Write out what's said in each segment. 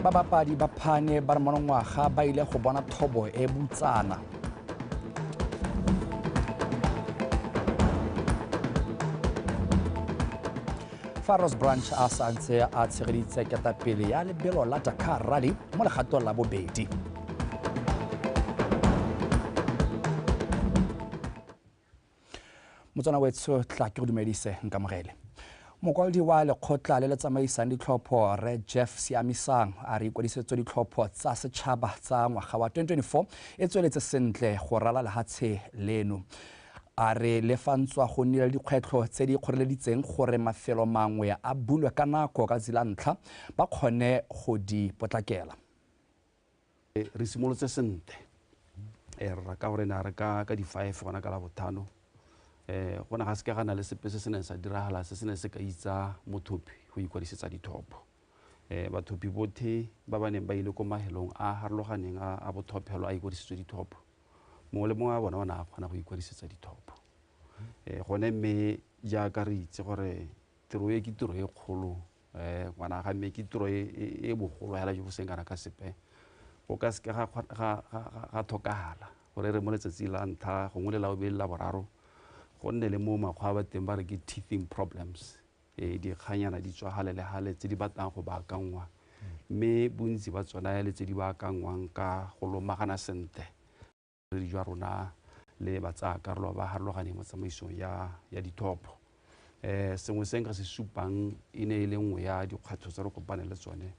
babapadi ba phane ba re monongwaga ba ile go bona thobo e butsana faros branch a sa ntse a tshegeditse ketapele ya lebelo la dakar rally mo legatong la bobedi motswana wetsho tla ke go dumedise nkamogele mokwaledi wa lekgotla le le tsamaisang ditlhopho re jeff siamisang a re ikwadisetso ditlhopho tsa setšhaba tsa ngwaga wa 2024 e tsweletse sentle go rala lehatshe leno a re le fa ntswa go nnile le dikgwetlho tse di kgoreleditseng gore mafelo mangwe a bulwe ka nako ka tsela ntlha ba kgone go di potlakela Eh, re simolotse sente eh, re raka gore ne a re ka ka di-five gona ka la bothano um go ne ga seke ga na le sepe se se neng sa diragala se se ne se ka itsa mothopi go ikwadisetsa dithopo um bathopi bothe ba ba neng ba ile ko mahelong a harologaneng a bothophelo a ikwadisitswe dithopo mongwe le mongwe wa bona o ne a kgona go ikwadisetsa dithopo um gone mme jaaka re itse gore tiro e ke tiro e kgolo um ngwana ga mme ke tiro e, e, e bogolo hela jo bo seng kana ka sepe go ka seke ga tlhokagala gore re mo letsatsi la ntlha gongwe le la bobedi la boraro go nne le mo makgwa ba teng ba re ke teething problems um dikganyana di tswa gale le gale tse di batlang go baakangwa mme bontsi ba tsona le tse di baakangwang ka go lomagana sentle bodiredi jwa rona le batsaakarolo ba ba harologaneng mo tsamaisong ya, ya dithopo um sengwe se nka se supang e ne e le nngwe ya dikgwetlho tse re kopane le tsone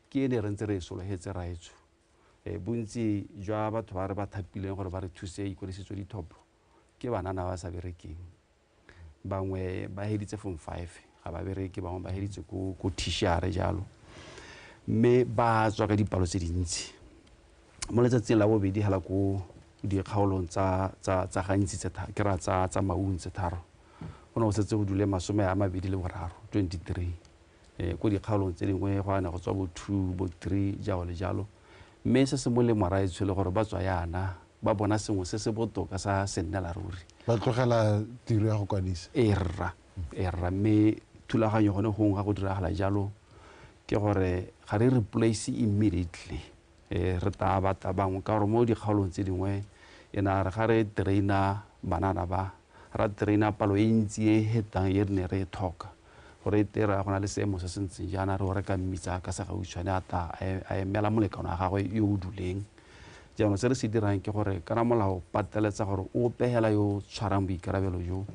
ke e ne re ntse re e sologetse raetsho um bontsi jwa batho ba re ba thapileng gore ba re thuse ikwadisetso dithopo ke banana ba sa berekeng bangwe ba heditse form five ga ba bereke bangwe ba heditse ko ko tishare jalo mme ba tswa ka dipalo tse dintsi mo letsatsing la bobedi hala ko dikgaolong tsa tsa tsa gantsi tse tharo ke ra tsa tsa maung tse tharo go ne go setse go dule masome a mabedi le boraro 23 um ko dikgaolong tse dingwe go yana go tswa bo two bo three jalo le jalo mme se se molemo raetsho le gore ba tswa yana ba bona sengwe se se botoka sa sennela ruri ba tlogela tiro ya go kwadisa e rra e rra mme thulaganyo gone gongwe ga go diragala jalo ke gore ga re replace immediately Ee, re taa ba tabangwe ka gore mo dikgaolong tse dingwe e na re ga re traina banana ba, ra traina palo e ntsi e e hetang e re ne re e thoka gore e tera go na le seemo se se ntseng jaana re o reka mmitsa ka segautshwane a ta a emela molekano wa gagwe yo o duleng. Jaanong se re se dirang ke gore kana molao pateletsa gore o pegela yo o tshwarang boikarabelo jo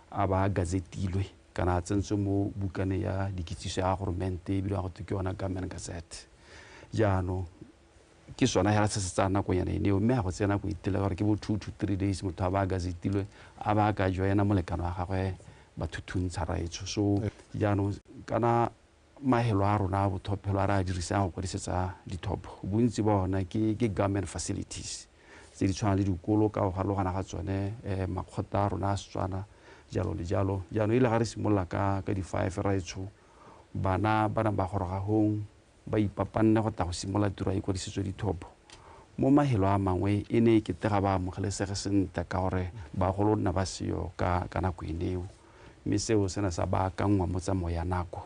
a ba a gazetilwe. kana a tsentswe mo bukaneng ya dikitsiso ya goromente e bidiwang go ke yona government gazette jaanong ke sona hela se se tsaya nakonyana eneo mme a go tsena go itela gore ke bo two to three days motho a ba a gazetilwe a ba a ka joena molekano wa gagwe bathuthuntsha raetsho so jaanong kana Maelo a rona a bothophelo a re a dirisang go kwadisetsa dithopo, bontsi ba ona ke government facilities tse di tshwanang le dikolo ka go farologana ga tsone, makgotla a rona a Setswana, jalo le jalo. Jaanong e le ga re simolola ka di-five ra e tsho, bana ba nang ba goroga hong, ba ipapanne go tla go simolola tiro ya ikwadisetso ya dithopo. Mo maelo a mangwe e ne e kete ga ba amogelesege sentle ka gore bagolo nna ba seyo ka nako e neo. mme seo se ne sa baakanngwa mo tsamaong ya nako.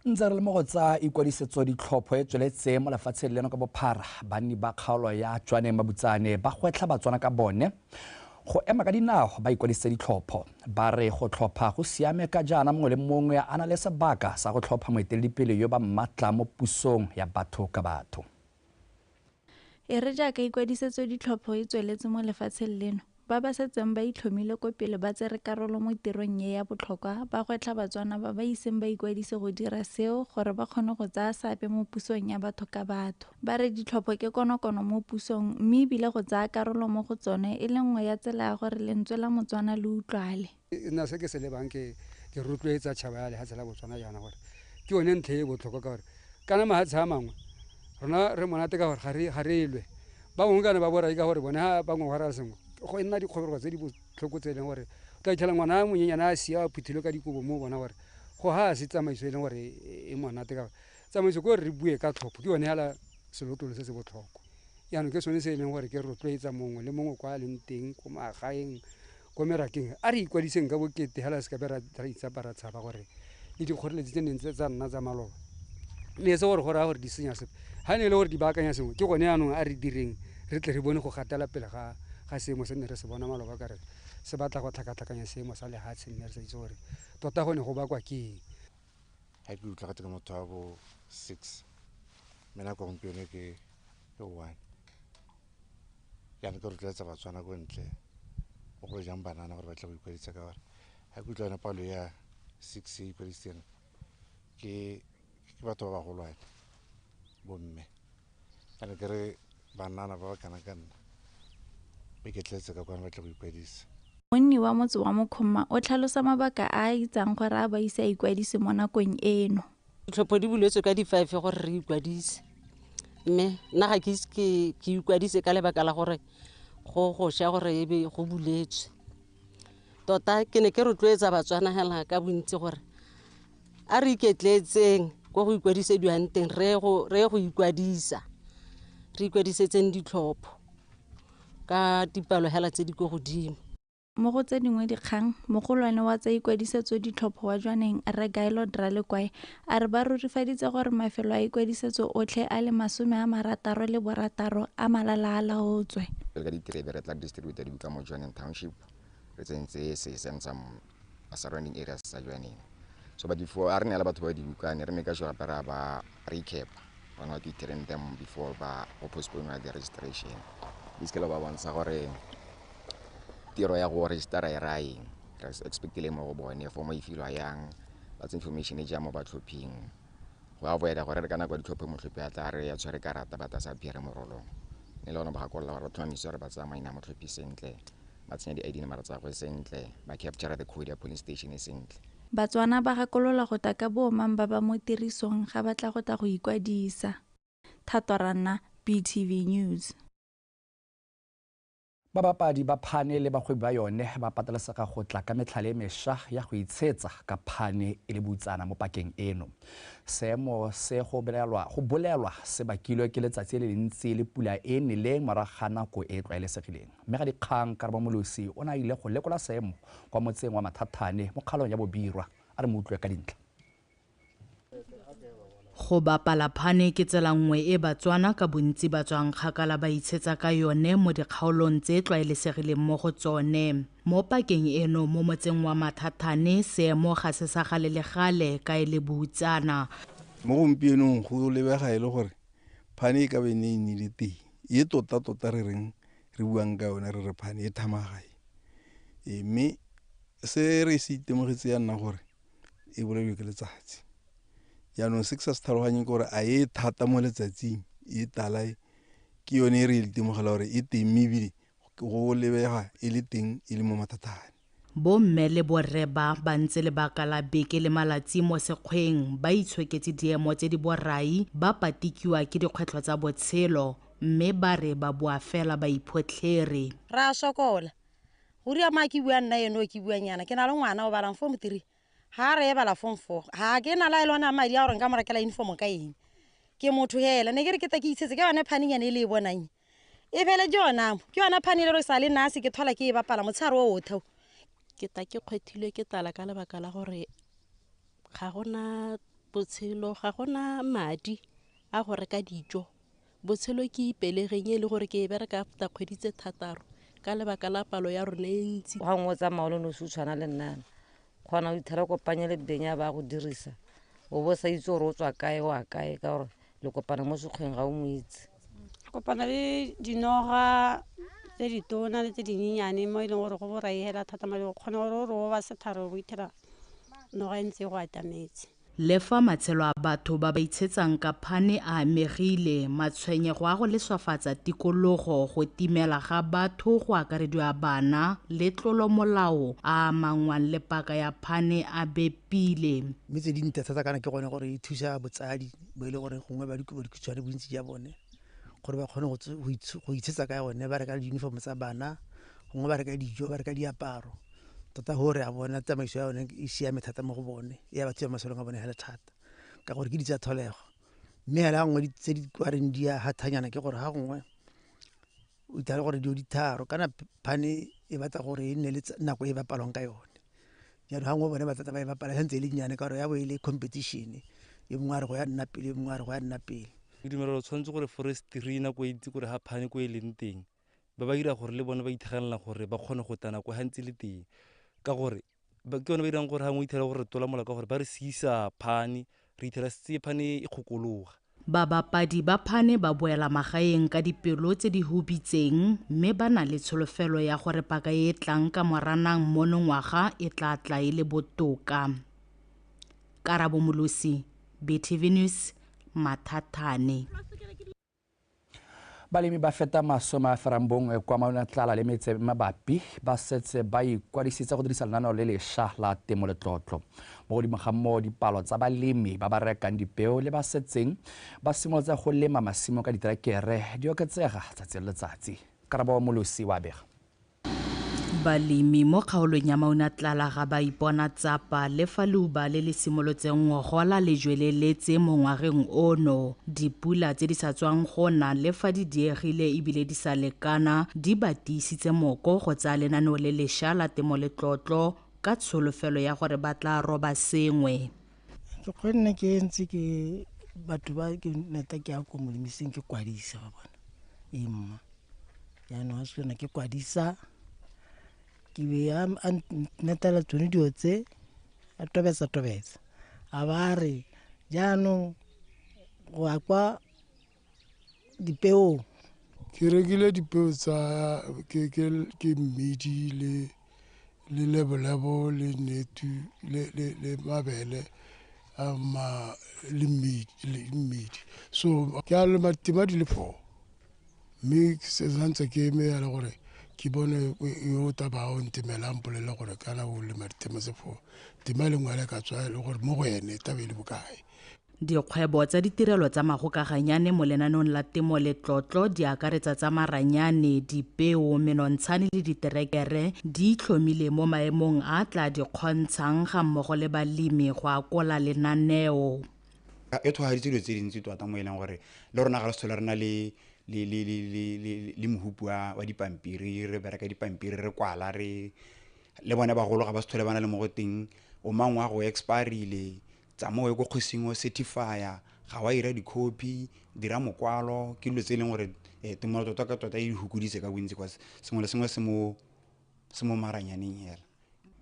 Ntse re le mo go tsa ikwadisetso ditlhopho e tsweletse mo lefatsheng leno ka bophara, banni ba kgaolo ya Tswaneng Mabutsane ba gwetlha Batswana ka bone go ema ka dinao ba ikwadisitse ditlhopho. Ba re go tlhopha go siame ka jaana mongwe le mongwe a na le sebaka sa go tlhopha moeteledipele yo ba mmatla mo pusong ya batho ka batho. E re jaaka ikwadisetso ditlhopho e tsweletse mo lefatsheng leno, ba ba setseng ba itlhomile ko pele ba tsere karolo mo tirong e ya botlhokwa ba gwetlha Batswana ba ba iseng ba ikwadise go dira seo gore ba kgone go tsaya seabe mo pusong ya batho ka batho. Ba re ditlhopho ke konokono mo pusong mme ebile go tsaya karolo mo go tsone e le nngwe ya tsela ya gore lentswe la Motswana le utlwale. nna se ke se lebang ke ke rotloetsa tšhaba ya lehatshe la botswana jaana gore ke yone ntlhe e botlhokwa ka gore kana mahatshe a mangwe rona re monate ka gore ga re elwe ba bangwe kana ba borai ka gore bone ga bangwe go raya sengwe go nna dikgobego tse di botlhoko tse e leng gore o tla itlhela ngwana a monyenyana a sia a phuthilwe ka dikobo mo bona gore go ga se tsamaiso e leng gore e monate ka gore tsamaiso ke gore re bue ka tlhopho ke yone fela selotolo se se botlhokwa jaanong ke sone se e leng gore ke rotloetsa mongwe le mongwe kwa a leng teng ko magaeng ko merakeng a re ikwadiseng ka bokete hela se ka be ra itsapa ra tshaba gore le dikgoreletsi tse neng tsa nna tsa maloba mme se gore go raya gore di senya sepe ga ne e le gore di baakanya sengwe ke gone yaanong a re direng re tle re bone go gatela pele ga ga seemo se ne re se bona maloba ka re se batla go tlhakatlhakanya seemo sa lehatshe mme re sa itse gore tota go ne go bakwa ke eng ga ke utlwa gate ka motho wa bo six mme nako gompieno ke ke one jaanong ke rotloetsa batswana ko ntle mo go jang banana gore ba tle go ikwadisa ka gore ga ke utlwa yone palo ya six e ikwadisitseng ke batho ba bagolwane bomme Kana ke re banana ba ba kana ka nna mme ke tletse ka kwana ba tla go ikwadisa. Monni wa motse wa Mokgomma o tlhalosa mabaka a a itsang gore a ba ise a ikwadise mo nakong eno. Ditlhopho di buletswe ka di-five gore re ikwadise mme nna ga ke ise ke ikwadise ka lebaka la gore go gosha gore ebe go buletswe. tota ke ne ke rotloetsa batswanagela ka bontsi gore a re iketletseng ko go ikwadisediwang teng re ye go- re ye go ikwadisa re ikwadisetseng ditlhopho ka dipalogela tse di ko godimo Mo go tse dingwe dikgang, mogolwane wa tsa ikwadisetso ditlhopho wa Jwaneng, Rre Gaelod Ralekwae, A re ba rurifaditse gore mafelo a ikwadisetso otlhe a le masome a marataro le borataro a malala a laotswe. Re ka diterebe re tla distributor di buka mo Johaneng Township re tsentse se send some surrounding areas tsa Johaneng. So but before a re neela batho ba di buka ne re maker sure gape ra ba recap on what we train them before ba go postpone the registration. Basically ba bontsha gore tiro ya go registera e raya eng. Re expect-ile mo go bone for mo e filwa yang, that's information e ja mo batlhophing. Go avoid-a gore re ka nako ya ditlhopho motlhophi a tla re ya tshwere karata but a sa appear-e mo rolong. Mme le gone ba gakolola gore ba tlhomamisa gore ba tsaya maina a motlhophi sentle, ba tsenya di-ID number tsa gagwe sentle, ba capture-a the code ya polling station e sentle. Batswana ba gakolola go ta ka boomang ba ba mo tirisong ga ba tla go ta go ikwadisa. Thato Ranna, BTV News. Babapadi ba phane le bagwebi ba yone ba patelesega go tla ka metlhale e mesha ya go itshetsa ka phane e le butsana mo pakeng eno. Seemo se go bolelwa se bakilwe ke letsatsi le lentsi le pula e neleng morago ga nako e e tlwaelesegileng. Mmegadikgang Karabo Molosi o ne a ile go lekola seemo kwa motseng wa Mathathane mo kgaolong ya Bobirwa a re mo utlwe ka dintlha. Go bapala phane ke tsela nngwe e Batswana ka bontsi ba tswang kgakala ba itshetsa ka yone mo dikgaolong tse e tlwaelesegileng mo go tsone. Mo pakeng eno mo motseng wa Mathathane, seemo ga se sa gale le gale ka e le boutsana. Mo gompienong go lebega e le gore phane e ka be ne e nnile teng. E tota-tota re reng re buang ka yone re re phane e thamagae. Mme se re se itemogetse ya nna gore e bolaiwe ke letsatsi jaanong se ke sa se tlhaloganyeng ke gore a e thata mo letsatsing e tala e ke yone e re itemogela gore e teng mme ebile go lebega e le teng e le mo mathatane bomme le borre ba ba ntse lebaka la beke le malatsi mo sekgweng ba itshoketse diemo tse di borai ba patikiwa ke dikgwetlho tsa botshelo mme ba re ba boa fela ba iphotlhere ra sokola go ria ma ke bua nna eno ke buang yana ke na le ngwana o balang form three ga a re e bala form four ga ke na la e lona madi a gore nka mo rekela uniform ka eng ke motho hela ne ke re ke ta ke itshetse ke yone phaning yane e le e bonang e fele ke yonamo ke yona phane e le re sa le nase ke thola ke e bapala motshegare o otheo ke ta ke kgwethilwe ke tala ka lebaka la gore ga gona botshelo ga gona madi a go reka dijo Botshelo ke ipelegeng e le gore ke e bereka after kgwedi tse thataro ka lebaka la palo ya rona e ntsi. Ga nngwe o tsamaya o le nosi o tshwana le nnana kgona o ithela kopanye le beng ya ba go dirisa o bo sa itse gore o tswa kae o a kae ka gore le kopana mo sekgweng ga o mo itse kopana le dinoga tse ditona le tse dinyenyane mo e leng gore go boraegela thata madi o kgona gore o re o ba setharo o bo ithela noga e ntse e go atametse Lefa matshelo a batho ba ba itshetsang ka phane a amegile, matshwenyego a go leswafatsa tikologo, go timela ga batho go akarediwa bana le tlolomolao a a amanngwang le paka ya phane a bepile. Mme tse dintle thata kana ke gone gore e thusa botsadi bo e le gore gongwe ba dikhutshwane bontsi ja bone gore ba kgone go itshetsa ka yone ba reka di-uniform tsa bana gongwe ba reka dijo ba reka diaparo tota gore a bona tsamaiso ya one e siame thata mo go bone e ya batho ya masolong a bone fela thata ka gore ke di tsa tlholego mme fela nngwe di- tse di kwareng di ya hathanyana ke gore ga gongwe o ithala gore dio ditharo kana p- phane e batla gore e nne le tsa- nako e bapalwang ka yone jalo ga ngwe bone ba tata ba e bapala santse e le nnyane ka gore ya bo e le competition e mongwe a re go ya nna pele e mongwe a re go ya nna pele ke dumela gore o tshwanetse gore forestry nako e ntsi gore ga phane ko e leng teng ba ba dira gore le bone ba ithegelela gore ba kgone go tana ko gantsi le teng ka gore ke yone ba dirang gore gangwe ithela gore re tola mola ka gore ba re sisa phane re ithela setse phane e kgokologa Babapadi ba phane ba boela magaeng ka dipelo tse di hubitseng mme ba na le tsholofelo ya gore paka e e tlang ka moranang monongwaga e tla tla e le botoka. Karabo Molosi, BTV News, Mathathane. Balemi ba feta masome a ferang bongwe kwa Mauna Tlala le metse mabapi ba setse ba ikwadisitse go dirisa lenaneo le lesha la temo letlotlo. Mo godimo ga moo, dipalo tsa balemi ba ba rekang dipeo le ba setseng ba simolotse go lema masimo ka diterekere di oketsega tsatsi le letsatsi. Karabo Molosi wa bega. Balemi mo kgaolong ya Maunatlala ga ba ipona tsapa le fa leuba le le simolotseng go gola le jweleletse mo ngwageng ono. Dipula tse di sa tswang go na le fa di diegile ebile di sa lekana di ba tiisitse moko go tsaya lenaneo le lesha la temo letlotlo ka tsholofelo ya gore ba tla roba sengwe. Ke kgonne ke ntse ke batho ba ke neta ke ya ko molemiseng ke kwadisa ba bona e mma jaanong ga se yone ke kwadisa ke be a a netela tsone dilo tse a tobetsa tobetsa a ba re jaanong go ya kwa dipeong ke rekile dipeo tsa ke ke ke mmidi le le lebolebo le netu le le le mabele a ma le mmidi le mmidi so ke a lema tima di le four mme ke se santse ke eme yana gore ke bone e- yo o taba o ntemelang mpolelela gore kana o lema ditema tse four tema e le nngwe ya le ka tswa e le gore mo go ene taba e le bokae Dikgwebo tsa ditirelo tsa magokaganyane mo lenaneong la temo le tlotlo di akaretsa tsa maranyane, dipeo, menontshane le diterekere di itlhomile mo maemong a tla di kgontshang ga mmogo le balemi go akola lenaneo. E tshwageditse dilo tse dintsi tota mo e leng gore le rona ga re sethole re na le le le le le le le mohupu wa wa dipampiri re bereka dipampiri re kwala re le bone bagolo ga ba sethole ba na le mo go teng o mangwe wa go expirile Tsamaya o ye ko kgosing o certify-a, ga wa ira dikhopi, dira mokwalo, ke dilo tse e leng gore tumelo tota ka tota e di fokoditse ka bontsi cause sengwe le sengwe se mo maranyaneng fela.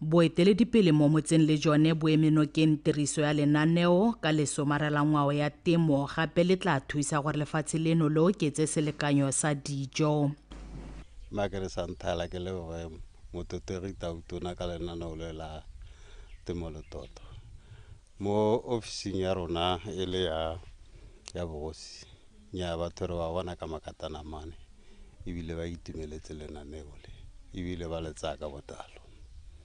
Boeteledipele mo motseng le jone bo eme nokeng tiriso ya lenaneo ka lesomara la ngwao ya temo gape le tla thusa gore lefatshe leno le oketse selekanyo sa dijo. Makere Santhala ke leboge. Mothotegi Tau Tona ka lenaneo le la temo letoto mo ofising ya rona e le ya ya bogosi nya batho re ba bona ka makatana mane ebile ba itumeletse lenaneo le ebile ba le tsaya ka botalo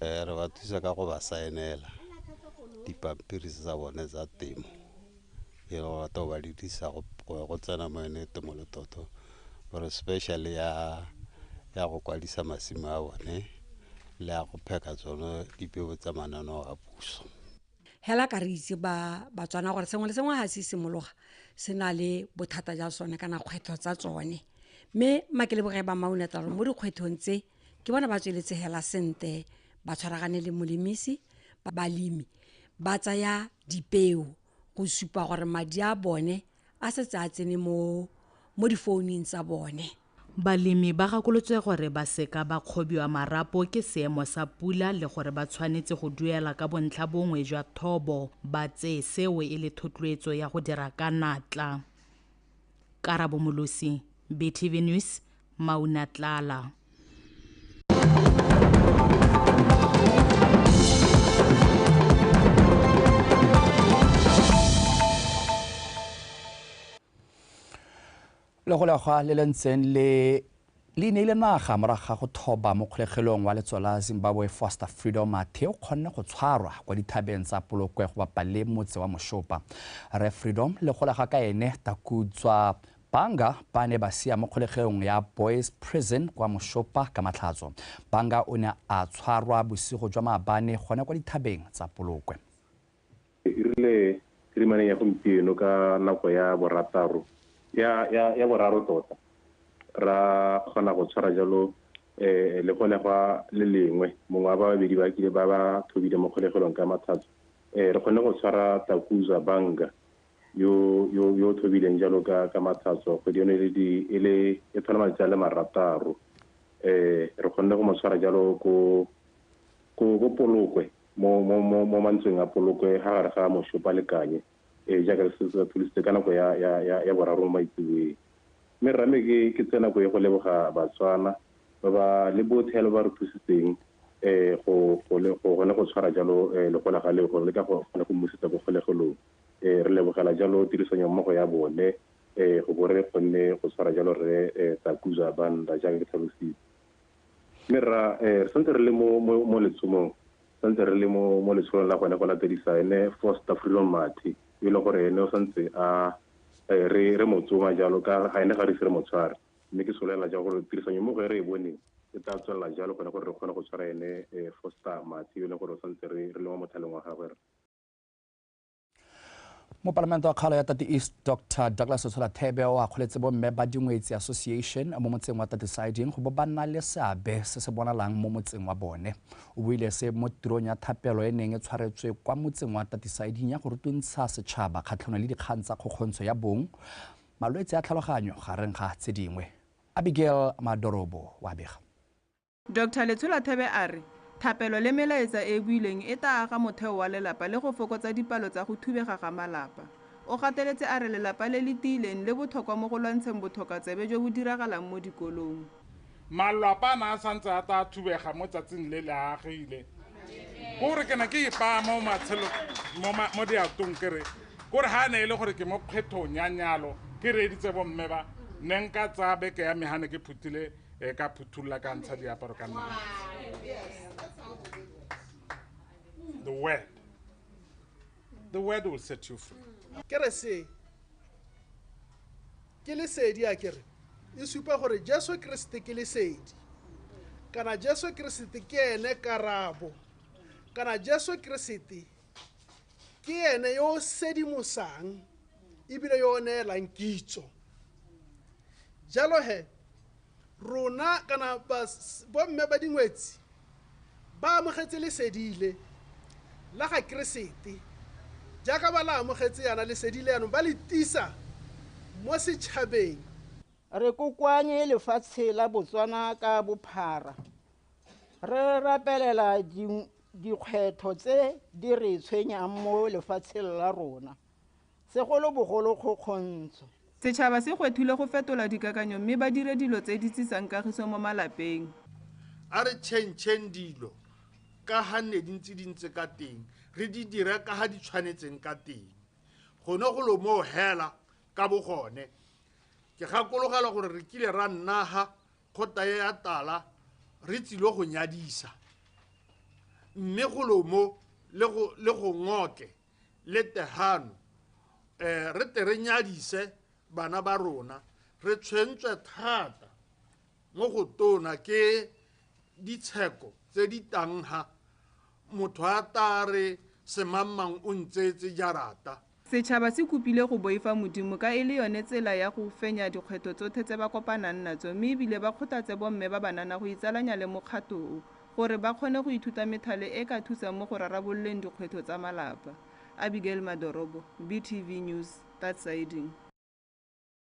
um re ba thusa ka go ba saenela dipampiri tsa bone tsa temo. e le go rata go ba le disa go tsena mo yone temo le toto gore special ya ya go kwadisa masimo a bone le ya go pheka tsone dipeo tsa mananeo a puso hela ka re itse ba batswana gore sengwe le sengwe ga se simologa se na le bothata ja sone kana kgwetlho tsa tsone mme makeleboge ba maunetalo mo dikgwetlhong tse ke bona ba tsweletse hela sente ba tshwaragane le molemisi ba balemi ba tsaya dipeo go supa gore madi a bone a setse a tsene mo mo difounung tsa bone balemi ba gakolotswe gore ba seka ba kgobiwa marapo ke seemo sa pula le gore ba tshwanetse go duela ka bontlha bongwe jwa thobo ba tseye seo e le thotloetso ya go dira ka natla Karabo Molosi, BTV News, Maunatlala. le go legwa le le ntseng le Le neile naga morago ga go thoba mo kgolegelong wa letso la Zimbabwe Foster Freedom Mathe o kgonne go tshwarwa kwa dithabeng tsa Polokwe go bapa le motse wa Moshopa. Rre Freedom le gola ga ka ene Takudzwa Banga ba ne ba sia mo kgolegeong ya Boys Prison kwa Moshopa ka Matlhatso. Banga o ne a tshwarwa bosigo jwa maabane gone kwa dithabeng tsa Polokwe. Re dirile kirimaneng ya gompieno ka nako ya borataro ya ya ya boraro tota ra kgona go tshwara jalo eh le gone gwa le lengwe mongwe wa ba babedi ba kile ba ba thobile mo kgolegelong ka mathata eh re kgone go tshwara Takuza Banga yo yo yo thobileng jalo ka ka mathatso go di ne le di e le e tlhola malatsi a le marataro eh re kgonne go mo tshwara jalo ko ko ko polokwe mo, mo, mo, mo mantsweng a poloko e gare ga mošopa le kanye e jaaka re setse re thulisitse ka nako ya ya ya, ya boraro mo maitsebeng mme rame ke ke tse nako e go leboga batswana ba ba le bothe lo ba re thusitseng eh go go le go gone go tshwara jalo eh, le go la ga le go le ka go kgone go mmusetsa go kgolegelong eh re lebogela jalo tirisanyo mmogo ya bone eh go bo re kgonne go tshwara jalo re eh, takuza banda jaaka ke tlhalositse Mme rra, ee, re santse re le mo, mo, mo letshomong, re santse re le mo, mo letsholong la gone go latedisa ene Foster Freedom Mathe, yo e leng gore ene o santse a, ee, re, re mo tsoma jalo, ka ga ene ga re ise re mo tshware. Mme ke solelela jang gore tirisanyommogo e re e boneng e tla tswelela jalo gone gore re kgone go tshwara ene, ee, Foster Mathe, yo e leng gore o santse re, re le mo mothaleng wa gagwe, rra. mopalamente wa kgaolo ya tati east dr douglas tshola thebe o akgoletse bomme ba dingwetsi association mo motseng wa tati siding go bo ba nna le seabe se se bonalang mo motseng wa bone o buile se mo tirong ya thapelo e neng e tshwaretswe kwa motseng wa tati siding ya go rutuntsha setšhaba kgatlhanong le dikgang tsa kgokgontsho ya bong malwetse a tlhaloganyo gareng ga tse dingwe abigail madorobo wa bega Doctor Letsholathebe a re thapelo le melaetsa e e builweng e taa aga motheo wa lelapa le go fokotsa dipalo tsa go thubega ga malapa. O gateletse a re lelapa le le tiileng le bothokwa mo go lwantsheng bothokatsebe jo bo diragalang mo dikolong. Malwapa a ne a santse a taa thubega mo tsatsing le le agile. Ko re ke ne ke ipaa mo matshelong mo mo diatong ke re ko re ha ne e le gore ke mo kgwethong ya nyalo ke reeditse bomme ba ne nka tsaya beke ya me ha ne ke phuthile e ka phuthulla ka ntsha diaparo ka nna the word the word will set you free ke re se ke lesedi a kere e supa gore jesu keresete ke lesedi kana jesu keresete ke ene karabo kana jesu keresete ke ene yo o sedimosang ebile yo o neelang kitso jalo he rona kana bomme ba dingwetsi ba amogetse lesedile la ga keresete jaaka ba la amogetse yana lesedile yanong ba le tisa mo setšhabeng re kokoanye lefatshe la botswana ka bophara Re rapelela dikgwetlho tse di re tshwenyang mo lefatsheng la rona, segolobogolo kgokgontsho. Setšhaba se gwethilwe go fetola dikakanyo mme ba dire dilo tse di tsisang kagiso mo malapeng. A re tšhentšheng dilo ka ga nne di ntse di ntse ka teng, re di dire ka ga di tshwanetseng ka teng. Gone golo moo hela ka bogone, ke gakologelwa gore re kile ra nna ga kgota e ya tala re tsilo go nyadisa mme golomo le go le go ngoke le tehano eh re te re nyadise bana ba rona re tshwentswe thata mo go tona ke ditsheko tse di tangha Motho a ta a re, Semammang o ntseetse jarata. Setšhaba se kopile go boifa Modimo ka e le yone tsela ya go fenya dikgwetlho tsothe tse ba kopanang natso mme e bile ba kgothatse bomme ba banana go itsalanya le mokgato o gore ba kgone go ithuta methale e ka thusang mo go rarabololeng dikgwetlho tsa malapa. Abigail Madorobo, BTV News, Tatsiding.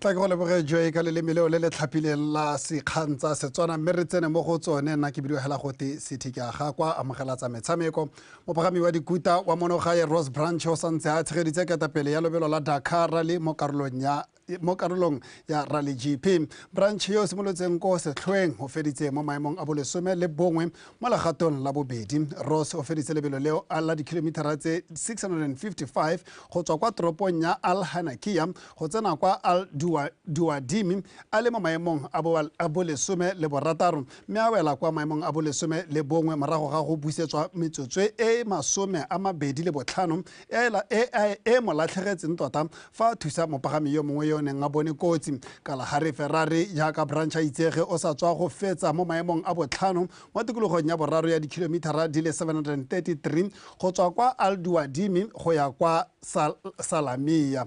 tla ke go leboge joe ka leleme leo le le tlhapileng la sekgang tsa setswana mme re tsene mo go tsone nna ke bidiogela gote sethikaga kwa amogela tsa metshameko mopagami wa dikuta wa monogae rose branch o santse a tshegeditse ketapele ya lobelo la dakar rally mo karolong ya mo karolong ya rally gp branch yo o simolotseng ko setlhoeng o feditse mo maemong a bolesome le bongwe mo legatong la bobedi ross o feditse lebelo leo a la dikhilomitara tse 655 go tswa kwa toropong ya al hanakia go tsena kwa al duadimi a le mo maemong a bolesome le borataro mme a wela kwa maemong a bolesome le bongwe morago ga go busetswa metsotswe e masome a mabedi le botlhano Ela e e mo latlhegetseng tota fa a thusa mopagami yo mongwe yo o neng a bone kotsi. Kalahari Ferrari jaaka Branch a itsege o sa tswa go fetsa mo maemong a botlhano mo tikologong ya boraro ya dikilomithara di le 733 go tswa kwa Alduwadimi go ya kwa Salamiya.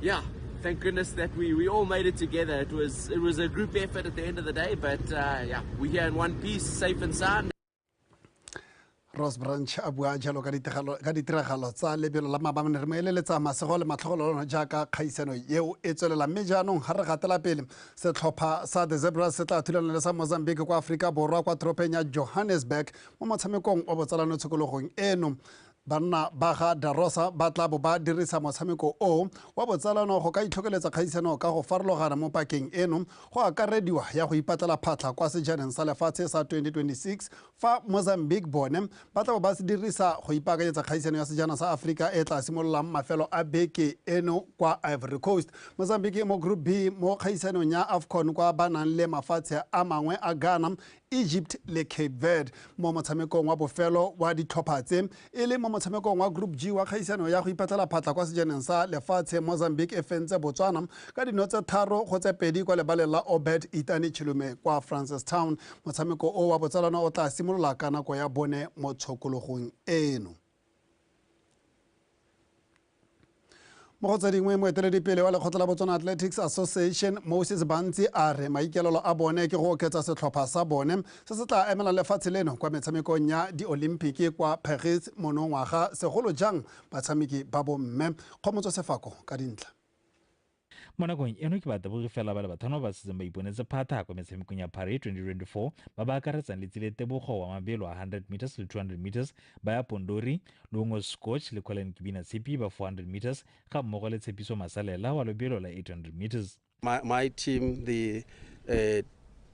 Yeah, thank goodness that we, we all made it together. It was it was a group effort at the end of the day, but uh, yeah, we're here in one piece, safe and sound. Ross Branch a bua jalo ka ditiragalo tsa lebelo la mabamane re mo eleletsa masego le matlhogolo lona jaaka kgaisano eo e tswelela mme jaanong ga re gatela pele setlhopha sa the zebras se tla thulana le sa mozambique kwa aforika borwa kwa toropeng ya johannesburg mo motshamekong wa botsalano tshokologong eno Banna ba ga Da Rosa ba tla bo ba dirisa motshameko o wa botsalano go ka itlhokeletsa kgaisano ka go farologana mo pakeng eno, go akarediwa ya go ipatlela phatlha kwa Sejaneng sa Lefatshe sa 2026 fa Mozambique bone ba tla bo ba se dirisa go ipaakanyetsa kgaisano ya Sejana sa Aforika e e tla simololang mafelo a beke eno kwa Ivory Coast. Mozambique e mo Group B mo kgaisanong ya Afcon kwa ba nang le mafatshe a mangwe a Ghana, Egypt le Cape Verde mo motshamekong wa bofelo wa ditlhopha tse e le mo motshamekong wa Group G wa kgaisano ya go ipatlela phatla kwa sejaneng sa lefatshe Mozambique e fentse Botswana ka dino tse tharo go tse pedi kwa lebaleng la Obed Itani Chilume kwa Francistown motshameko o wa botsalano o tla simolola ka nako ya bone mo tshokologong eno mo go tse dingwe moeteledipele wa lekgotla la botswana athletics association moses bantsi a re maikelelo a bone ke go oketsa setlhopha sa bone se se tla emelang lefatshe leno kwa metshamekong ya diolimpiki kwa paris monongwaga segolo jang batshameki ba bomme kgomotso sefako ka dintlha Mo nakong eno ke batabogi fela ba le bathano ba ba setseng ba iponetse phatha kwa metshamekong ya Paris 2024 ba ba akaretsang Letsile Tebogo wa mabelo a 100 meters le 200 meters, Baya Pondori, Luongo Scotch le Colin Kibina Tshipi ba 400 meters ga mmogo le Tshepiso Masalela wa lobelo la 800 meters. My, my team, the uh,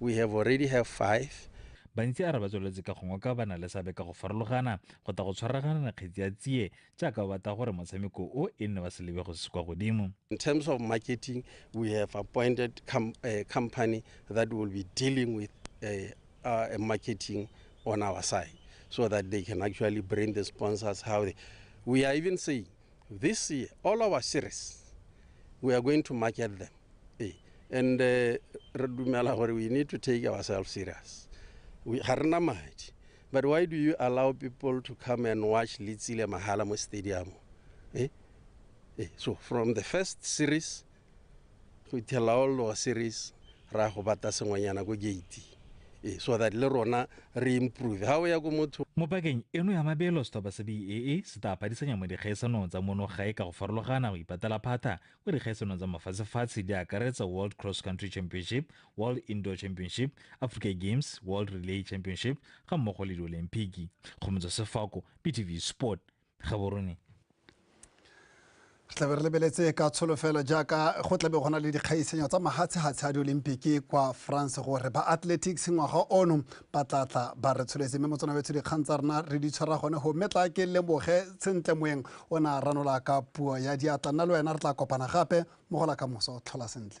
We have already have five. Bantsi a re ba tsweletse ka go ngoka ba na le seabe ka go farologana go ta go tshwaragana kgetsi ya tsie jaaka ba batla gore motshameko o e nne wa selebego se se kwa godimo. In terms of marketing, we have appointed com a company that will be dealing with a, uh, a marketing on our side so that they can actually bring the sponsors how they, we are even saying this year all our series we are going to market them Ee. and eh, re dumela gore we need to take ourselves serious We- ga rena madi but why do you allow people to come and watch letsile mahala mo stadium eh? Eh, so from the first series go ithelela all lower series ra go bata sengwenyana ko gate eh, so that le rona re improve ga o ya ko motho mo pakeng eno ya mabelo setlhopha sa baa se tla padisanya mo dikgaisanong tsa mono gae ka go farologana go ipatela phata Mo dikgaisanong tsa mafatshefatshe di akaretsa World Cross Country Championship, World Indoor Championship, Africa Games, World Relay Championship ga mmogo le diolimpiki. Go motswa sefako, BTV Sport, Gaborone. re tlabe re lebeletse ka tsholofelo jaaka go tlabe go na le dikgaisanyo tsa mahatshehatshe a diolimpiki kwa france gore ba athletics ngwaga ono batlatla ba re tsholetse mme motsana wetsho dikgang tsa rena re di tshwara gone go mme tla ke leboge sentle moeng o ne a ranola ka puo ya diatla nna le wena re tla kopana gape mogola ka moso tlhola sentle